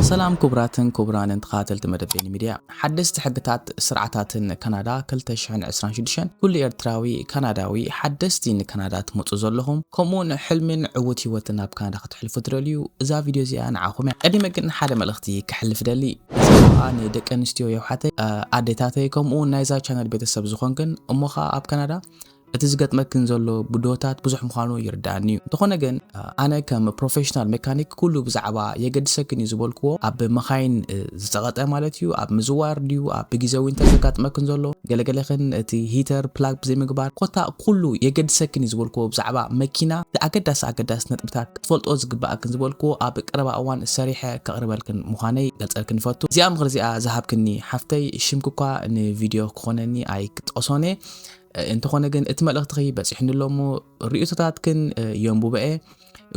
ሰላም ኩቡራትን ኩቡራንን ተኻታተልቲ መደብ ቤኒ ሚድያ ሓደስቲ ሕግታት ስርዓታትን ካናዳ ክልተ ሽሕን ዕስራን ሽዱሽተን ኩሉ ኤርትራዊ ካናዳዊ ሓደስቲ ንካናዳ ትመጹ ዘለኹም ከምኡውን ሕልሚን ዕዉት ሂወትን ኣብ ካናዳ ከተሕልፉ ትደልዩ እዛ ቪድዮ እዚኣ ንዓኹም እያ ቀዲመ ግን ሓደ መልእኽቲ ከሕልፍ ደሊ እዚኣ ንደቂ ኣንስትዮ የውሓተይ ኣዴታተይ ከምኡውን ናይዛ ቻነል ቤተሰብ ዝኾንክን እሞ ኸኣ ኣብ ካናዳ እቲ ዝገጥመክን ዘሎ ብድሆታት ብዙሕ ምዃኑ ይርድኣኒ'ዩ። እንተኾነ ግን ኣነ ከም ፕሮፌሽናል መካኒክ ኩሉ ብዛዕባ የገድሰክን እዩ ዝበልክዎ፣ ኣብ መኻይን ዝጸቐጠ ማለት እዩ፣ ኣብ ምዝዋር ድዩ፣ ኣብ ብግዜ ዊንተር ዘጋጥመክን ዘሎ፣ ገለ ገለኽን እቲ ሂተር ፕላግ ብዘይምግባር፣ ኮታ ኩሉ የገድሰክን እዩ ዝበልክዎ ብዛዕባ መኪና እቲ ኣገዳሲ ኣገዳሲ ነጥብታት ክትፈልጥኦ ዝግብኣክን ዝበልክዎ ኣብ ቀረባ እዋን ሰሪሐ ከቕርበልክን ምዃነይ ገልጸልክን እፈቱ። እዚኣ ምኽሪ'ዚኣ ዝሃብክኒ ሓፍተይ ሽምኪ'ኳ ንቪድዮ ክኾነኒ ኣይክጠቕሶን'የ። እንተኾነ ግን እቲ መልእኽትኺ በፂሑኒ ኣሎ እሞ ርእቶታትክን የንቡበኤ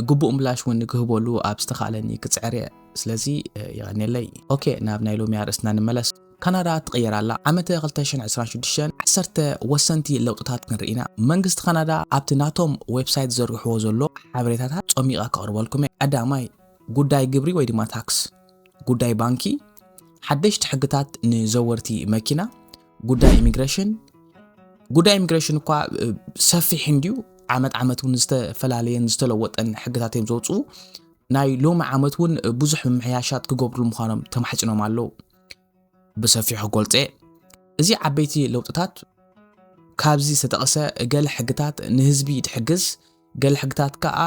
ግቡእ ምላሽ እውን ክህበሉ ኣብ ዝተኻእለኒ ክፅዕር እየ ስለዚ የቐኒለይ ኦኬ ናብ ናይ ሎሚ ኣርእስትና ንመለስ ካናዳ ትቕየር ኣላ ዓመተ 226 ዓሰርተ ወሰንቲ ለውጥታት ክንርኢ ኢና መንግስቲ ካናዳ ኣብቲ ናቶም ዌብሳይት ዘርግሕዎ ዘሎ ሓበሬታታት ጾሚቓ ከቕርበልኩም እየ ቀዳማይ ጉዳይ ግብሪ ወይ ድማ ታክስ ጉዳይ ባንኪ ሓደሽቲ ሕግታት ንዘወርቲ መኪና ጉዳይ ኢሚግሬሽን ጉዳይ ኢሚግሬሽን እኳ ሰፊሕ እንድዩ ዓመት ዓመት እውን ዝተፈላለየን ዝተለወጠን ሕግታት እዮም ዘውፅኡ ናይ ሎሚ ዓመት እውን ብዙሕ ምምሕያሻት ክገብሩ ምዃኖም ተማሕፂኖም ኣለዉ ብሰፊሑ ክገልፀ እዚ ዓበይቲ ለውጥታት ካብዚ ዝተጠቕሰ ገለ ሕግታት ንህዝቢ ትሕግዝ ገለ ሕግታት ከኣ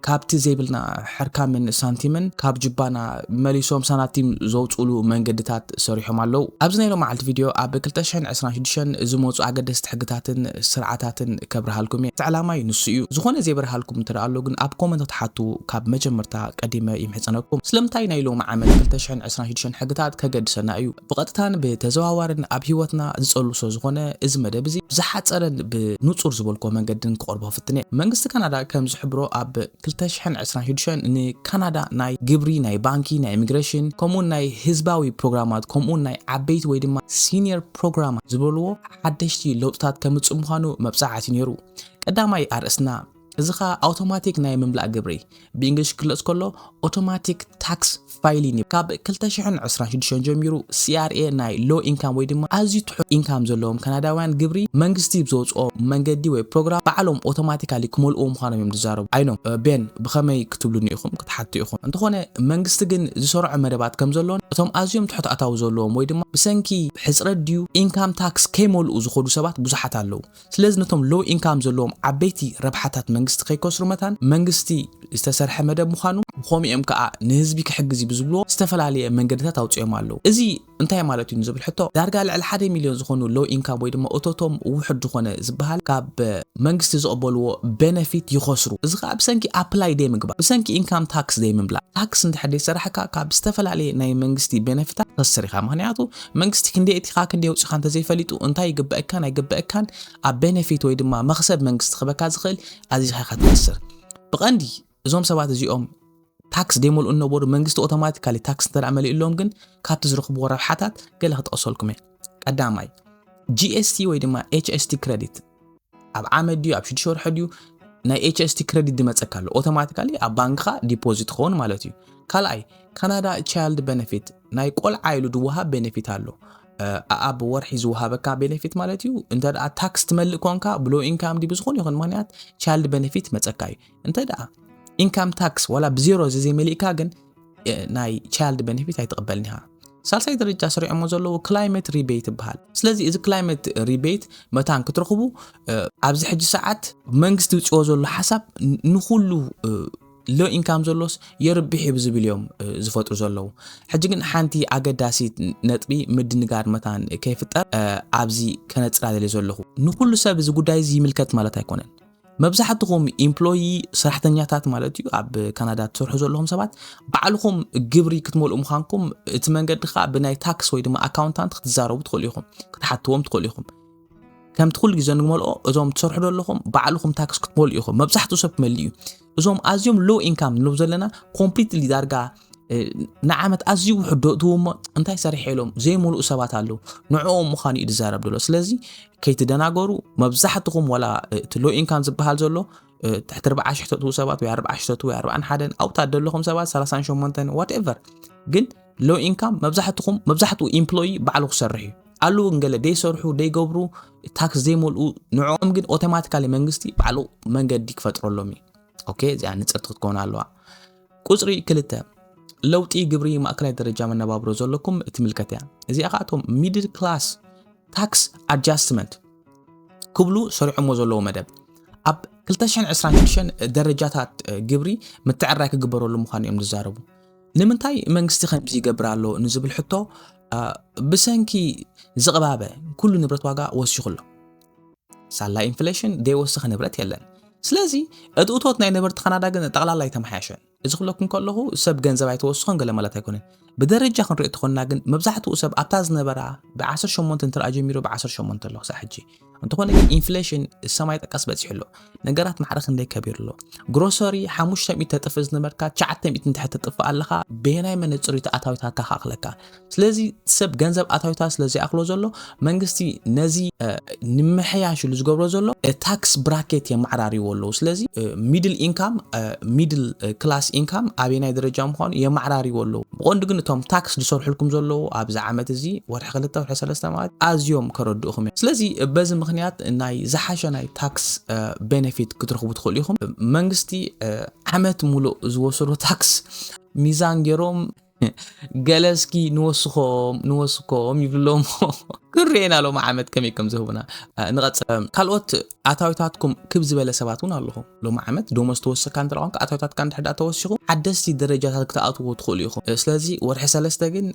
ካብቲ ዘይብልና ሕርካምን ሳንቲምን ካብ ጅባና መሊሶም ሳናቲም ዘውፅሉ መንገድታት ሰሪሖም ኣለው። ኣብዚ ናይ ሎማዓልቲ ቪድዮ ኣብ ክልተ ሽሕን ዕስራን ሽዱሽተን ዝመፁ ኣገደስቲ ሕግታትን ስርዓታትን ከብርሃልኩም እየ። እቲ ዕላማይ ንሱ እዩ። ዝኾነ ዘይበርሃልኩም እንተደኣ ኣሎ ግን ኣብ ኮመንታት ሓቱ ካብ መጀመርታ ቀዲመ ይምሕፀነኩም። ስለምንታይ ናይ ሎሚ ዓመት ክልተ ሽሕን ዕስራን ሽዱሽተን ሕግታት ከገድሰና እዩ? ብቐጥታን ብተዘዋዋርን ኣብ ህይወትና ዝጸሉ ስለ ዝኾነ፣ እዚ መደብ እዚ ብዝሓጸረን ብንጹር ዝበልኩዎ መንገድን ክቐርቦ ክፍትን እየ። መንግስቲ ካናዳ ከም ዝሕብሮ ኣብ ክልተ ሽሕን ዕስራን ሽዱሽተን ንካናዳ ናይ ግብሪ፣ ናይ ባንኪ፣ ናይ ኢሚግረሽን ከምኡውን ናይ ህዝባዊ ፕሮግራማት ከምኡውን ናይ ዓበይቲ ወይ ድማ ሲኒየር ፕሮግራማት ዝበልዎ ሓደሽቲ ለውጥታት ከምጽእ ምዃኑ መብጽዓ ኣትዩ ነይሩ። ቀዳማይ ኣርእስትና። እዚ ኸኣ ኣውቶማቲክ ናይ ምምላእ ግብሪ፣ ብእንግሊሽ ክግለጽ ከሎ Automatic Tax Filing፣ እዩ። ካብ ክልተ ሽሕን ዕስራን ሽዱሽተን ጀሚሩ፣ CRA ናይ Low Income ወይ ድማ ኣዝዩ ትሑት ኢንካም ዘለዎም ካናዳውያን ግብሪ መንግስቲ ብዘውጽኦ መንገዲ ወይ ፕሮግራም ባዕሎም ኦቶማቲካሊ ክመልእዎ ምዃኖም እዮም ዝዛረቡ። ኣይኖ፣ ቤን፣ ብኸመይ ክትብሉኒ ኢኹም ክትሓቱ ኢኹም። እንተኾነ መንግስቲ ግን ዝሰርዖ መደባት ከም ዘሎን እቶም ኣዝዮም ትሑት ኣታዊ ዘለዎም ወይ ድማ ብሰንኪ ሕጽረት ድዩ ኢንካም ታክስ ከይመልኡ ዝኸዱ ሰባት ብዙሓት ኣለዉ። ስለዚ ነቶም ሎው ኢንካም ዘለዎም ዓበይቲ ረብሓታት መንግስቲ ከይከስሩ መታን መንግስቲ ዝተሰርሐ መደብ ምዃኑ ብኸምኡ እዮም ከኣ ንህዝቢ ክሕግዝ እዩ ብዝብልዎ ዝተፈላለየ መንገድታት ኣውጺኦም ኣለዉ። እዚ እንታይ ማለት እዩ ንዝብል ሕቶ ዳርጋ ልዕሊ ሓደ ሚልዮን ዝኾኑ ሎው ኢንካም ወይ ድማ እቶቶም ውሑድ ዝኾነ ዝበሃል ካብ መንግስቲ ዝቕበልዎ በነፊት ይኸስሩ። እዚ ከኣ ብሰንኪ ኣፕላይ ዘይምግባር፣ ብሰንኪ ኢንካም ታክስ ዘይምምላእ፣ ታክስ እንድሕር ዘይሰራሕካ ካብ ዝተፈላለየ ናይ መንግስቲ በነፊታት ትኸስር ኢኻ። ምኽንያቱ መንግስቲ ክንደይ ኣእቲኻ ክንደይ ኣውጺኻ እንተዘይፈሊጡ እንታይ ይግበኣካን ኣይግበኣካን ኣብ ቤነፊት ወይ ድማ መኽሰብ መንግስቲ ክበካ ዝኽእል ኣዚኻ ኢኻ ትኸስር ብቐንዲ እዞም ሰባት እዚኦም ታክስ ደይመልኡ እነበሩ መንግስቲ ኦቶማቲካሊ ታክስ እንተ መሊኡሎም ግን ካብቲ ዝረኽብዎ ረብሓታት ገለ ክጠቕሰልኩም እየ ቀዳማይ ጂኤስቲ ወይ ድማ ኤችኤስቲ ክረዲት ኣብ ዓመት ድዩ ኣብ ሽዱሽተ ወርሒ ድዩ ናይ ኤችኤስቲ ክረዲት ዝመፀካ ኣሎ ኦቶማቲካሊ ኣብ ባንክኻ ዲፖዚት ክኸውን ማለት እዩ ካልኣይ ካናዳ ቻይልድ ቤነፊት ናይ ቆልዓ ኢሉ ዝወሃብ ቤነፊት ኣሎ ኣብ ወርሒ ዝወሃበካ ቤነፊት ማለት እዩ እንተ ታክስ ትመልእ ኮንካ ብሎ ኢንካም ዲ ብዝኾነ ይኹን ምክንያት ቻይልድ ቤነፊት መፀካ እዩ እንተ ደኣ ኢንካም ታክስ ዋላ ብዜሮ ዘዘይመሊእካ ግን ናይ ቻይልድ ቤኔፊት ኣይትቕበልን ኢኻ ሳልሳይ ደረጃ ስሪዖሞ ዘለዎ ክላይመት ሪቤት ይበሃል ስለዚ እዚ ክላይመት ሪቤት መታን ክትረኽቡ ኣብዚ ሕጂ ሰዓት መንግስቲ ውፅዎ ዘሎ ሓሳብ ንኩሉ ሎ ኢንካም ዘሎስ የርብሕ እዩ ብዝብል እዮም ዝፈጥሩ ዘለዉ ሕጂ ግን ሓንቲ ኣገዳሲት ነጥቢ ምድንጋር መታን ከይፍጠር ኣብዚ ከነፅላ ዘለዩ ዘለኹ ንኩሉ ሰብ እዚ ጉዳይ እዚ ይምልከት ማለት ኣይኮነን መብዛሕትኹም ኢምፕሎዪ ሰራሕተኛታት ማለት እዩ ኣብ ካናዳ ትሰርሑ ዘለኹም ሰባት ባዕልኹም ግብሪ ክትመልኡ ምዃንኩም እቲ መንገዲ ከዓ ብናይ ታክስ ወይ ድማ ኣካውንታንት ክትዛረቡ ትኽእሉ ኢኹም ክትሓትዎም ትኽእሉ ኢኹም ከምቲ ኩሉ ግዜ ንመልኦ እዞም ትሰርሑ ዘለኹም ባዕልኹም ታክስ ክትመልኡ ኢኹም መብዛሕትኡ ሰብ ክመልእ እዩ እዞም ኣዝዮም ሎ ኢንካም ንብ ዘለና ኮምፕሊትሊ ዳርጋ ንዓመት ኣዝዩ ውሕድ ዶ እትው እሞ እንታይ ሰሪሐ ኢሎም ዘይምሉእ ሰባት ኣለዉ ንዕኦም ምዃኑ እዩ ዝዛረብ ዘሎ ስለዚ ከይትደናገሩ መብዛሕትኹም ዋላ እቲ ሎ ኢንካም ዝበሃል ዘሎ ትሕቲ ርብዓ ሽሕ ተትው ሰባት ወይ ኣርብዓ ሽሕ ተትው ኣርብዓን ሓደን ኣብታ ዘለኹም ሰባት ሰላሳን ሸሞንተን ዋትኤቨር ግን ሎ ኢንካም መብዛሕትኹም መብዛሕትኡ ኢምፕሎይ ባዕሉ ክሰርሕ እዩ ኣለዉ ገለ ደይሰርሑ ደይገብሩ ታክስ ዘይመልኡ ንዕኦም ግን ኦቶማቲካሊ መንግስቲ ባዕሉ መንገዲ ክፈጥረሎም እዩ ኦኬ እዚኣ ንፅርቲ ክትከውን ኣለዋ ቁጽሪ ክልተ፣ ለውጢ ግብሪ ማእከላይ ደረጃ መነባብሮ ዘለኩም እትምልከት እያ። እዚኣ ከኣ እቶም ሚድል ክላስ ታክስ ኣጃስትመንት ክብሉ ሰሪዖሞ ዘለዉ መደብ ኣብ 226 ደረጃታት ግብሪ ምትዕራይ ክግበረሉ ምዃኑ እዮም ዝዛረቡ። ንምንታይ መንግስቲ ከምዚ ይገብር ኣሎ ንዝብል ሕቶ ብሰንኪ ዝቕባበ ኩሉ ንብረት ዋጋ ወሲኹ ኣሎ። ሳላ ኢንፍሌሽን ዘይወስኽ ንብረት የለን። ስለዚ እቲ እቶት ናይ ነበርቲ ካናዳ ግን ጠቕላላ ኣይተመሓየሸን። እዚ ክብለኩም ከለኹ ሰብ ገንዘብ ኣይተወስኸን ገለ ማለት ኣይኮነን። ብደረጃ ክንሪኦ ተኾንና ግን መብዛሕትኡ ሰብ ኣብታ ዝነበራ ብ18 እንትርኣ ጀሚሩ ብ18 ኣሎ ክሳዕ ሕጂ። እንተኾነ ግን ኢንፍሌሽን ሰማይ ጠቀስ በፂሑ ኣሎ። ነገራት ማዕረ ክንደይ ከቢሩ ኣሎ። ግሮሰሪ 500 ተጥፍእ ዝነበርካ 900 እንድሕር ተጥፍእ ኣለኻ በየናይ መነፅር እዩ ተኣታዊታትካ ክኣኽለካ? ስለዚ ሰብ ገንዘብ ኣታዊታት ስለ ዘይኣክሎ ዘሎ መንግስቲ ነዚ ንምሕያሽ ኢሉ ዝገብሮ ዘሎ ታክስ ብራኬት የማዕራሪዎ ኣለዉ ስለዚ ሚድል ኢንካም ሚድል ክላስ ኢንካም ኣበናይ ደረጃ ምዃኑ የማዕራሪዎ ኣለዉ ብቐንዱ ግን እቶም ታክስ ዝሰርሑልኩም ዘለዉ ኣብዚ ዓመት እዚ ወርሒ ክልተ ወርሒ ሰለስተ ማለት ኣዝዮም ከረድኡኹም እዮም ስለዚ በዚ ምክንያት ናይ ዝሓሸ ናይ ታክስ ቤነፊት ክትረኽቡ ትኽእሉ ኢኹም መንግስቲ ዓመት ሙሉእ ዝወሰዶ ታክስ ሚዛን ገይሮም ገለ እስኪ ንወስኮም ንወስኮም ይብሎሞ ክንርኤና ሎሚ ዓመት ከመይ ከም ዝህቡና ንቐፅል። ካልኦት ኣታዊታትኩም ክብ ዝበለ ሰባት እውን ኣለኹም። ሎሚ ዓመት ደሞዝ ተወሰካ እንተ ኮንካ ኣታዊታትካ እንድሕዳ ተወሲኹ ሓደስቲ ደረጃታት ክትኣትዎ ትኽእሉ ኢኹም። ስለዚ ወርሒ ሰለስተ ግን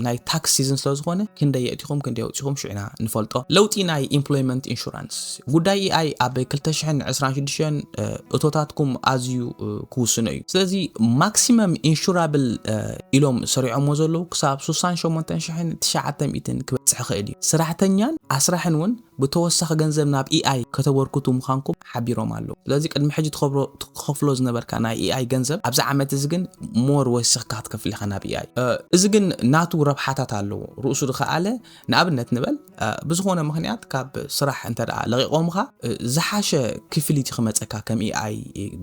ናይ ታክስ ሲዝን ስለዝኾነ ክንደይ የእቲኹም ክንደይ ኣውፂኹም ሽዑ ኢና ንፈልጦ። ለውጢ ናይ ኢምፕሎይመንት ኢንሹራንስ ጉዳይ AI ኣብ ክልተ ሽሕን ዕስራን ሽዱሽተን እቶታትኩም ኣዝዩ ክውስኖ እዩ። ስለዚ ማክሲመም ኢንሹራብል ኢሎም ሰሪዖሞ ዘለዉ ክሳብ ሱሳን ሸሞንተን ሽሕን ትሽዓተ ሚእትን ክበጽሕ ይኽእል እዩ። ስራሕተኛን ኣስራሕን እውን ብተወሳኺ ገንዘብ ናብ AI ከተበርክቱ ምዃንኩም ሓቢሮም ኣለዉ። ስለዚ ቅድሚ ሕጂ ትኸፍሎ ዝነበርካ ናይ AI ገንዘብ ኣብዚ ዓመት እዚ ግን ሞር ወሲኽካ ክትከፍል ኢኻ ናብ AI። እዚ ግን ናቱ ረብሓታት ኣለዎ ርእሱ ዝኸኣለ። ንኣብነት ንበል ብዝኾነ ምኽንያት ካብ ስራሕ እንተ ለቂቖምኻ ዝሓሸ ክፍሊት ክመፀካ ከም ኢኣይ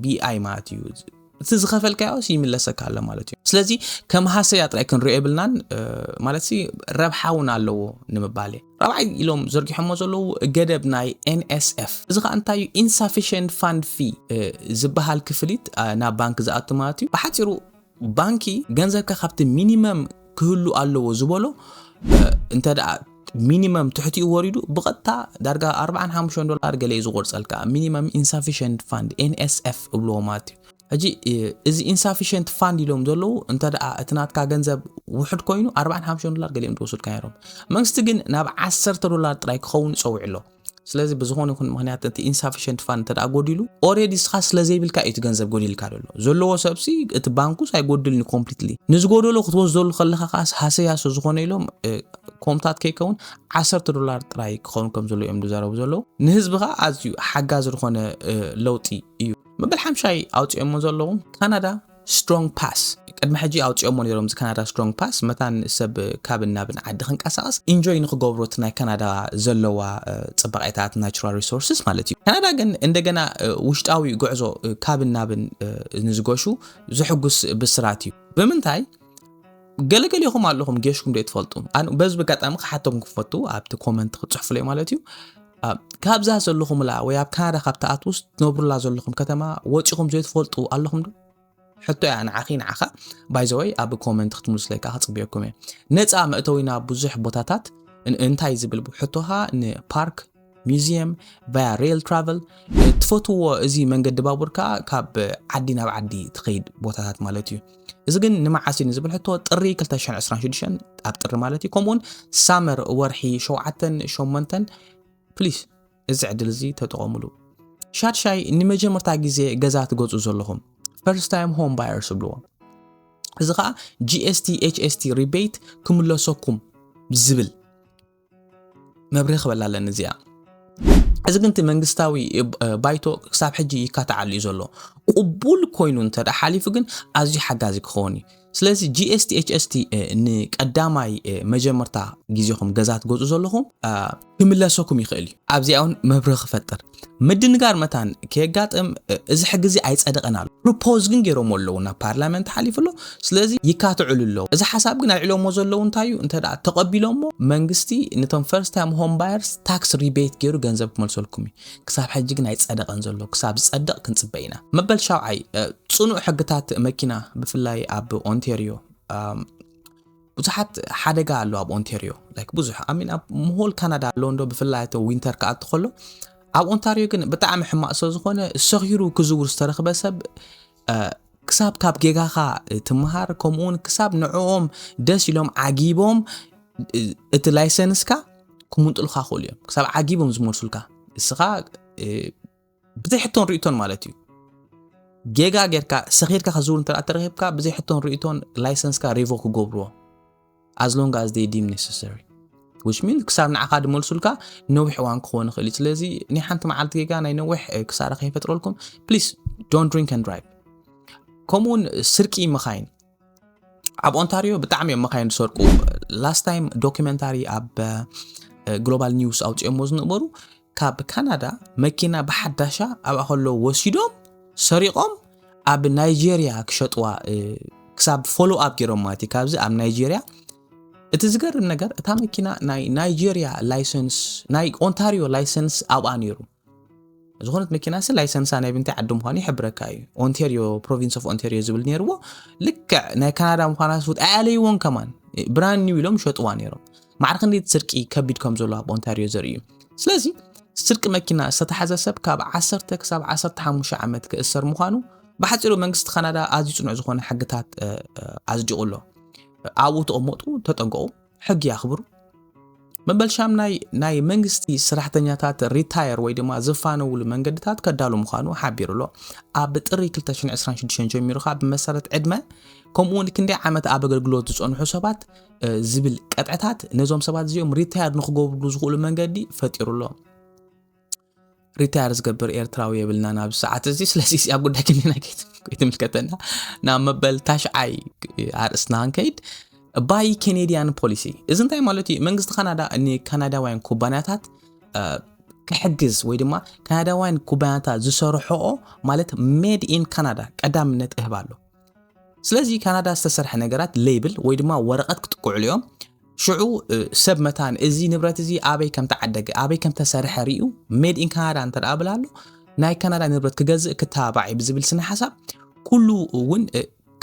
ብኢኣይ ማለት እዩ እቲ ዝኸፈልካዮስ ይምለሰካ ኣሎ ማለት እዩ ስለዚ ከም ሃሰያ ጥራይ ክንሪኦ የብልናን ማለት ረብሓ እውን ኣለዎ ንምባል እየ ራብዓይ ኢሎም ዘርጊሖሞ ዘለዉ ገደብ ናይ ኤንኤስኤፍ እዚ ከዓ እንታይ እዩ ኢንሳፊሽንት ፋንድ ፊ ዝበሃል ክፍሊት ናብ ባንክ ዝኣቱ ማለት እዩ ብሓፂሩ ባንኪ ገንዘብካ ካብቲ ሚኒመም ክህሉ ኣለዎ ዝበሎ እንተ ሚኒመም ትሕቲኡ ወሪዱ ብቐጥታ ዳርጋ 45 ዶላር ገለ እዩ ዝቆርፀልካ ሚኒመም ኢንሳፊሽንት ፋንድ ኤንኤስኤፍ እብልዎ ማለት እዩ ሕጂ እዚ ኢንሳፊሽንት ፋንድ ኢሎም ዘለዉ እንተ ደኣ እቲ ናትካ ገንዘብ ውሕድ ኮይኑ 45 ዶላር ገሊኦም ተወስድካ ነይሮም መንግስቲ ግን ናብ 10 ዶላር ጥራይ ክኸውን ጸዊዑ ኣሎ ስለዚ ብዝኾነ ይኹን ምክንያት እቲ ኢንሳፊሽንት ፋን እንተ ጎዲሉ ኦሬዲ እስኻ ስለዘይብልካ እዩ እቲ ገንዘብ ጎዲልካ ዘሎ ዘለዎ ሰብሲ እቲ ባንኩስ ኣይጎድልን እዩ ኮምፕሊትሊ ንዝጎደሎ ክትወስደሉ ከለኻ ከዓስ ሃሰያሶ ዝኾነ ኢሎም ኮምታት ከይከውን ዓሰርተ ዶላር ጥራይ ክኸውን ከም ዘሎ እዮም ዝዛረቡ ዘለዉ ንህዝቢ ከዓ ኣዝዩ ሓጋዚ ዝኾነ ለውጢ እዩ መበል ሓምሻይ ኣውፂኦሞ ዘለዉ ካናዳ Strong Pass ቅድሚ ሕጂ ኣውጺኦሞ ኔሮም እዚ ካናዳ Strong Pass መታን ሰብ ካብን ናብን ዓዲ ክንቀሳቀስ ኢንጆይ ንክገብሮ እቲ ናይ ካናዳ ዘለዋ ጽባቄታት ናቹራል ሪሶርስስ ማለት እዩ ካናዳ ግን እንደገና ውሽጣዊ ጉዕዞ ካብን ናብን ንዝገሹ ዘሕጉስ ብስራት እዩ ብምንታይ ገለገሌኹም ኣለኹም ጌሽኩም ዶ ትፈልጡ በዚ በጋጣሚ ክሓተኩም ክፈቱ ኣብቲ ኮመንት ክጽሕፉለይ ማለት እዩ ካብዛ ዘለኹምላ ወይ ኣብ ካናዳ ካብ ትኣትውስ ትነብሩላ ዘለኹም ከተማ ወፂኹም ዘይትፈልጡ ኣለኹም ዶ ሕቶ እያ ንዓኺ ንዓኻ ባይዘወይ ኣብ ኮመንት ክትምልስለይ ከዓ ክፅብየኩም እየ ነፃ መእተዊና ብዙሕ ቦታታት እንታይ ዝብል ሕቶኻ ንፓርክ ሚዚየም ቫያ ሬል ትራቨል ትፈትዎ እዚ መንገዲ ባቡር ከዓ ካብ ዓዲ ናብ ዓዲ ትኸይድ ቦታታት ማለት እዩ እዚ ግን ንመዓስ እዩ ንዝብል ሕቶ ጥሪ 2026 ኣብ ጥሪ ማለት እዩ ከምኡውን ሳመር ወርሒ ሸውዓተን ሸሞንተን ፕሊስ እዚ ዕድል እዚ ተጠቐሙሉ ሻድሻይ ንመጀመርታ ግዜ ገዛ ትገፁ ዘለኹም ፈርስት ታይም ሆም ባየርስ ብልዎ እዚ ከዓ ጂኤስቲ ኤችኤስቲ ሪቤት ክምለሰኩም ዝብል መብርሂ ክበላ ኣለኒ እዚኣ እዚ ግን እቲ መንግስታዊ ባይቶ ክሳብ ሕጂ ይካታዓሉ እዩ ዘሎ ቅቡል ኮይኑ እንተ ሓሊፉ ግን ኣዝዩ ሓጋዚ ክኸውን እዩ ስለዚ ጂኤስቲኤችኤስቲ ንቀዳማይ መጀመርታ ግዜኹም ገዛ ትገዝኡ ዘለኹም ክምለሰኩም ይኽእል እዩ ኣብዚኣ እውን መብርህ ክፈጥር ምድንጋር መታን ከየጋጥም እዚ ሕጊ እዚ ኣይጸደቐን ኣሎ ፕሮፖዝ ግን ገይሮሞ ኣለዉ ናብ ፓርላመንት ሓሊፉ ኣሎ ስለዚ ይካትዕሉ ኣለዉ እዚ ሓሳብ ግን ኣልዕሎሞ ዘለዉ እንታይ እዩ እንተ ተቐቢሎሞ መንግስቲ ነቶም ፈርስት ታይም ሆም ባየርስ ታክስ ሪቤት ገይሩ ገንዘብ ክመልሰልኩም እዩ ክሳብ ሕጂ ግን ኣይጸደቐን ዘሎ ክሳብ ዝጸድቕ ክንጽበ ኢና መበል ሻውዓይ ጽኑዕ ሕግታት መኪና ብፍላይ ኣብ ኦንቴርዮ ብዙሓት ሓደጋ ኣሎ ኣብ ኦንቴርዮ ላይክ ብዙሕ ኣሚን ኣብ ምሆል ካናዳ ኣሎ እንዶ ብፍላይ እቲ ዊንተር ክኣቲ ከሎ ኣብ ኦንታርዮ ግን ብጣዕሚ ሕማቅ ስለ ዝኾነ ሰኺሩ ክዝውር ዝተረኽበ ሰብ ክሳብ ካብ ጌጋኻ ትምሃር ከምኡውን ክሳብ ንዕኦም ደስ ኢሎም ዓጊቦም እቲ ላይሰንስካ ክምንጥልካ ክእሉ እዮም ክሳብ ዓጊቦም ዝመልሱልካ እስኻ ብዘይ ሕቶን ርእቶን ማለት እዩ ጌጋ ጌርካ ሰኺርካ ከዝውር እንተ ተረኺብካ ብዘይ ሕቶን ርእቶን ላይሰንስካ ሪቮ ክገብርዎ ኣዝሎንግ ኣዝ ደይ ዲም ኔሰሰሪ ዊች ሚን ክሳብ ንዓኻ ድመልሱልካ ነዊሕ እዋን ክኸውን ይኽእል እዩ ስለዚ ናይ ሓንቲ መዓልቲ ጌጋ ናይ ነዊሕ ክሳራ ከይፈጥረልኩም ፕሊስ ዶን ድሪንክ ን ድራይቭ ከምኡውን ስርቂ መኻይን ኣብ ኦንታሪዮ ብጣዕሚ እዮም መካይን ዝሰርቁ ላስት ታይም ዶኪመንታሪ ኣብ ግሎባል ኒውስ ኣውፅኦሞ ዝነበሩ ካብ ካናዳ መኪና ብሓዳሻ ኣብኣ ከሎ ወሲዶም ሰሪቖም ኣብ ናይጀርያ ክሸጥዋ ክሳብ ፎሎ ኣፕ ገይሮም ማለት እዩ ካብዚ ኣብ ናይጀርያ እቲ ዝገርም ነገር እታ መኪና ናይ ናይጀርያ ላይሰንስ ናይ ኦንታሪዮ ላይሰንስ ኣብኣ ነይሩ ዝኾነት መኪናሲ ላይሰንሳ ናይ ብንታይ ዓዲ ምዃኑ ይሕብረካ እዩ ኦንቴርዮ ፕሮቪንስ ኦፍ ኦንቴርዮ ዝብል ነይርዎ ልክዕ ናይ ካናዳ ምዃና ስውጥ ኣያለይዎን ከማን ብራን ኒው ኢሎም ሸጥዋ ነይሮም ማዕር ክንደይ ስርቂ ከቢድ ከም ዘሎ ኣብ ኦንታርዮ ዘርኢ እዩ ስለዚ ስርቂ መኪና ዝተታሓዘ ሰብ ካብ 1 ክሳብ 15 ዓመት ክእሰር ምዃኑ ብሓፂሩ መንግስቲ ካናዳ ኣዝዩ ፅኑዕ ዝኾነ ሕግታት ኣዝዲቑ ኣሎ ኣብኡ ተቐመጡ ተጠንቀቑ ሕጊ ኣኽብሩ። መበል ሻምናይ ናይ መንግስቲ ስራሕተኛታት ሪታየር ወይ ድማ ዝፋነውሉ መንገድታት ከዳሉ ምዃኑ ሓቢሩ ኣሎ። ኣብ ጥሪ 2026 ጀሚሩ ከዓ ብመሰረት ዕድመ ከምኡ እውን ክንደይ ዓመት ኣብ ኣገልግሎት ዝፀንሑ ሰባት ዝብል ቀጥዕታት ነዞም ሰባት እዚኦም ሪታየር ንክገብርሉ ዝኽእሉ መንገዲ ፈጢሩ ኣሎ። ሪታየር ዝገብር ኤርትራዊ የብልናን ኣብዚ ሰዓት እዚ ስለዚ እዚኣ ጉዳይ ክኒና ከይትምልከተና ናብ መበል ታሽዓይ ኣርእስትና ክንከይድ ባይ ኬኔድያን ፖሊሲ እዚ እንታይ ማለት እዩ መንግስቲ ካናዳ ንካናዳውያን ኩባንያታት ክሕግዝ ወይ ድማ ካናዳውያን ኩባንያታት ዝሰርሖኦ ማለት ሜድ ኢን ካናዳ ቀዳምነት እህብ ኣሎ ስለዚ ካናዳ ዝተሰርሐ ነገራት ሌብል ወይ ድማ ወረቐት ክጥቅዕሉ እዮም ሽዑ ሰብ መታን እዚ ንብረት እዚ ኣበይ ከም ተዓደገ ኣበይ ከም ተሰርሐ ርዩ ሜድ ኢን ካናዳ እንተ ብላ ኣሎ ናይ ካናዳ ንብረት ክገዝእ ክተባባዕ እዩ ብዝብል ስነ ሓሳብ ኩሉ እውን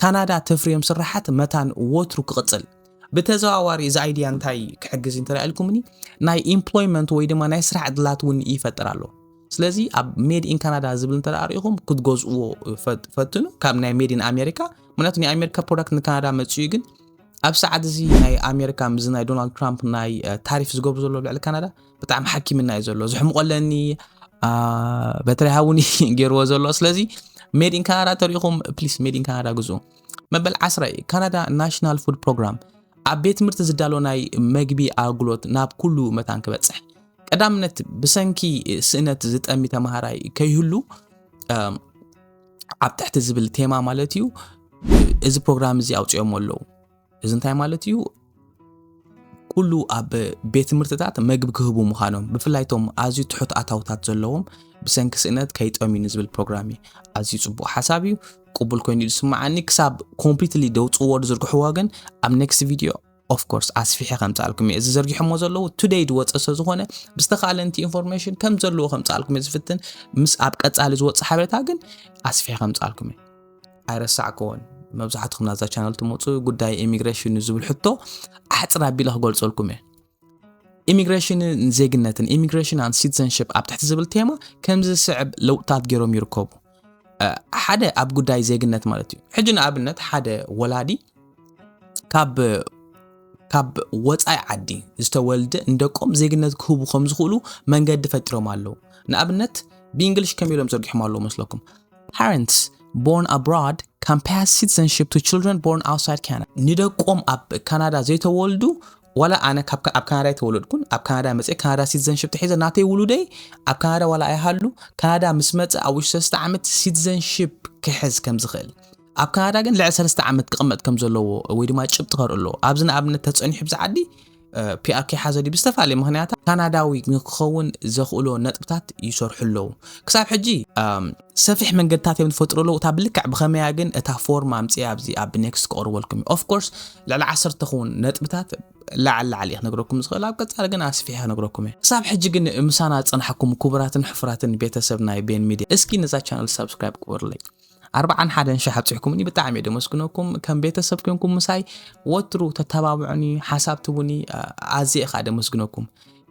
ካናዳ ተፍርዮም ስራሓት መታን ወትሩ ክቕፅል ብተዘዋዋሪ እዚ ኣይድያ እንታይ ክሕግዝ እንተልኩምኒ ናይ ኢምፕሎይመንት ወይ ድማ ናይ ስራሕ ዕድላት እውን ይፈጥር ኣሎ ስለዚ ኣብ ሜድ ኢን ካናዳ ዝብል እንተ ርኢኹም ክትገዝእዎ ፈትኑ ካብ ናይ ሜድ ኢን ኣሜሪካ ምክንያቱ ናይ ኣሜሪካ ፕሮዳክት ንካናዳ መፅኡ ግን ኣብ ሰዓት እዚ ናይ ኣሜሪካ ምዚ ናይ ዶናልድ ትራምፕ ናይ ታሪፍ ዝገብሩ ዘሎ ልዕሊ ካናዳ ብጣዕሚ ሓኪምና እዩ ዘሎ ዝሕምቆለኒ በተለይ ሃውን ገይርዎ ዘሎ ስለዚ ሜድ ኢን ካናዳ ተሪኢኹም ፕሊስ ሜድ ኢን ካናዳ ግዙ መበል ዓስራ እዩ ካናዳ ናሽናል ፉድ ፕሮግራም ኣብ ቤት ትምህርቲ ዝዳሎ ናይ መግቢ ኣገልግሎት ናብ ኩሉ መታን ክበፅሕ ቀዳምነት ብሰንኪ ስእነት ዝጠሚ ተምሃራይ ከይህሉ ኣብ ትሕቲ ዝብል ቴማ ማለት እዩ እዚ ፕሮግራም እዚ ኣውፅኦሞ ኣለዉ እዚ እንታይ ማለት እዩ ኩሉ ኣብ ቤት ትምህርትታት መግቢ ክህቡ ምዃኖም ብፍላይ ቶም ኣዝዩ ትሑት ኣታውታት ዘለዎም ብሰንኪ ስእነት ከይጠምዩ ንዝብል ፕሮግራም እዩ ኣዝዩ ፅቡቅ ሓሳብ እዩ ቅቡል ኮይኑ ዝስምዓኒ ክሳብ ኮምፕሊትሊ ደውፅዎ ዝርግሕዎ ግን ኣብ ኔክስት ቪድዮ ኦፍ ኮርስ ኣስፊሐ ከምጻልኩም እየ እዚ ዘርጊሖሞ ዘለዉ ቱደይ ዝወፀ ስለ ዝኾነ ብዝተኻለ ንቲ ኢንፎርሜሽን ከም ዘለዎ ከምጻልኩም እየ ዝፍትን ምስ ኣብ ቀጻሊ ዝወፅእ ሓበሬታ ግን ኣስፊሐ ከምጻልኩም እየ ኣይረሳዕክዎን መብዛሕትኹም ናዛ ቻነል ትመፁ ጉዳይ ኢሚግሬሽን ዝብል ሕቶ ኣሕፅር ኣቢለ ክገልፀልኩም እየ ኢሚግሬሽንን ዜግነትን ኢሚግሬሽን ኣን ሲቲዘንሽፕ ኣብ ትሕቲ ዝብል ቴማ ከምዚ ዝስዕብ ለውጥታት ገይሮም ይርከቡ ሓደ ኣብ ጉዳይ ዜግነት ማለት እዩ ሕጂ ንኣብነት ሓደ ወላዲ ካብ ካብ ወፃኢ ዓዲ ዝተወልደ ንደቆም ዜግነት ክህቡ ከም ዝኽእሉ መንገዲ ፈጢሮም ኣለዉ ንኣብነት ብእንግሊሽ ከም ኢሎም ዘርጊሖም ኣለዉ መስለኩም ፓረንትስ ቦርን ኣብሮድ ካን ፓስ ሲቲዘንሽፕ ቱ ችልድረን ቦርን ኣውትሳይድ ካናዳ ንደቆም ኣብ ካናዳ ዘይተወልዱ ዋላ ኣነ ካብ ኣብ ካናዳ ኣይተወለድኩን ኣብ ካናዳ መፀ ካናዳ ሲቲዘንሽፕ ተሒዘ ናተይ ውሉደይ ኣብ ካናዳ ዋላ ኣይሃሉ ካናዳ ምስ መፀ ኣብ ውሽጢ ሰለስተ ዓመት ሲቲዘንሽፕ ክሕዝ ከም ዝኽእል ኣብ ካናዳ ግን ልዕሊ ሰለስተ ዓመት ክቕመጥ ከም ዘለዎ ወይ ድማ ጭብጢ ከርኢ ኣለዎ ኣብዚ ንኣብነት ተፀኒሑ ብዚ ዓዲ ፒኣር ከይሓዘ ድዩ ብዝተፈላለየ ምክንያታት ካናዳዊ ንክኸውን ዘኽእሎ ነጥብታት ይሰርሑ ኣለዉ ክሳብ ሕጂ ሰፊሕ መንገድታት እዮም ዝፈጥርሉ እታ ብልክዕ ብኸመይ እያ ግን እታ ፎርም ኣምጽያ ኣብዚ ኣብ ኔክስት ክቐርበልኩም እዩ ኦፍ ኮርስ ልዕሊ ዓሰርተ ክውን ነጥብታት ላዕሊ ላዕሊ እየ ክነግረኩም ዝኽእል ኣብ ቀጻሊ ግን ኣስፊሐ ክነግረኩም እየ ክሳብ ሕጂ ግን ምሳና ዝጸናሕኩም ክቡራትን ሕፉራትን ቤተሰብ ናይ ቤን ሚድያ እስኪ ነዛ ቻነል ሳብስክራይብ ግበሩለይ ኣርባዓን ሓደን ሸሕ ኣብፅሕኩምኒ ብጣዕሚ እየ ደመስግነኩም ከም ቤተሰብ ኮንኩም ምሳይ ወትሩ ተተባብዑኒ ሓሳብ ትቡኒ ኣዝየ እኻ ደመስግነኩም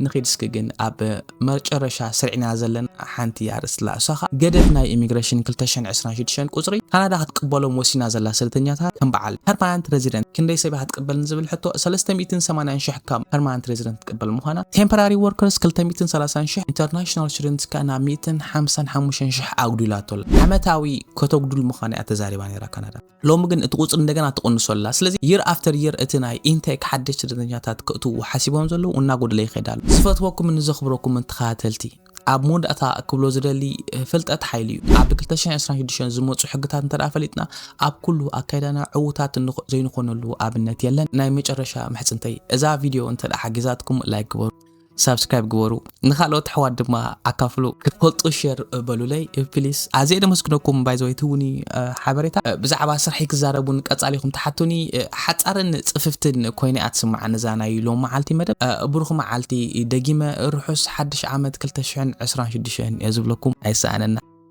ንኺድ እስኪ ግን ኣብ መጨረሻ ስሪዕና ዘለና ሓንቲ ኣርእስቲ ኣላ እሳ ከኣ ገደብ ናይ ኢሚግረሽን ክልተ ሽሕን ዕስራን ሽዱሽተን ቁጽሪ ካናዳ ክትቅበሎም ወሲና ዘላ ስደተኛታት ከም በዓል ፐርማናንት ረዚደንት ክንደይ ሰብ ኢያ ክትቅበል ንዝብል ሕቶ ሰለስተ ሚእትን ሰማንያን ሽሕ ካብ ፐርማናንት ረዚደንት ክትቅበል ምዃና ቴምፐራሪ ወርከርስ ክልተ ሚእትን ሰላሳን ሽሕ ኢንተርናሽናል ስቱደንትስ ከኣ ናብ ሚእትን ሓምሳን ሓሙሽተን ሽሕ ኣጉዲላቶ ኣላ ዓመታዊ ከተጉድል ምዃና ኢያ ተዛሪባ ነይራ ካናዳ። ሎሚ ግን እቲ ቁጽሪ እንደገና ትቕንሶ ኣላ። ስለዚ year after year እቲ ናይ intake ሓደሽቲ ስደተኛታት ክእትዉ ሓሲቦም ዘለዉ እናጎደለ ይኸይድ ኣሎ። ዝፈትወኩምን ዘኽብረኩምን ተኸታተልቲ፣ ኣብ መወዳእታ ክብሎ ዝደሊ ፍልጠት ሓይሊ እዩ። ኣብ ክልተ ሽሕን ዕስራን ሽዱሽተን ዝመጹ ሕግታት እንተድኣ ፈሊጥና ኣብ ኩሉ ኣካይዳና ዕዉታት ዘይንኾነሉ ኣብነት የለን። ናይ መጨረሻ ምሕጽንተይ እዛ ቪድዮ እንተድኣ ሓጊዛትኩም like ግበሩ። ሳብስክራይብ ግበሩ ንካልኦት ኣሕዋት ድማ ኣካፍሉ። ክትፈልጡ ሼር በሉለይ ፕሊስ። ኣዝየ ደመስግነኩም ባይዘወይ ትውኒ ሓበሬታ ብዛዕባ ስርሐይ ክዛረቡን ቀጻሊኹም ትሓቱኒ ሓጻርን ጽፍፍትን ኮይነ እያ ትስምዓኒ እዛ ናይ ሎም መዓልቲ መደብ። ብሩኽ መዓልቲ ደጊመ ርሑስ ሓድሽ ዓመት ክልተ ሽሕን ዕስራን ሽዱሽተን እየ ዝብለኩም ኣይሰኣነና።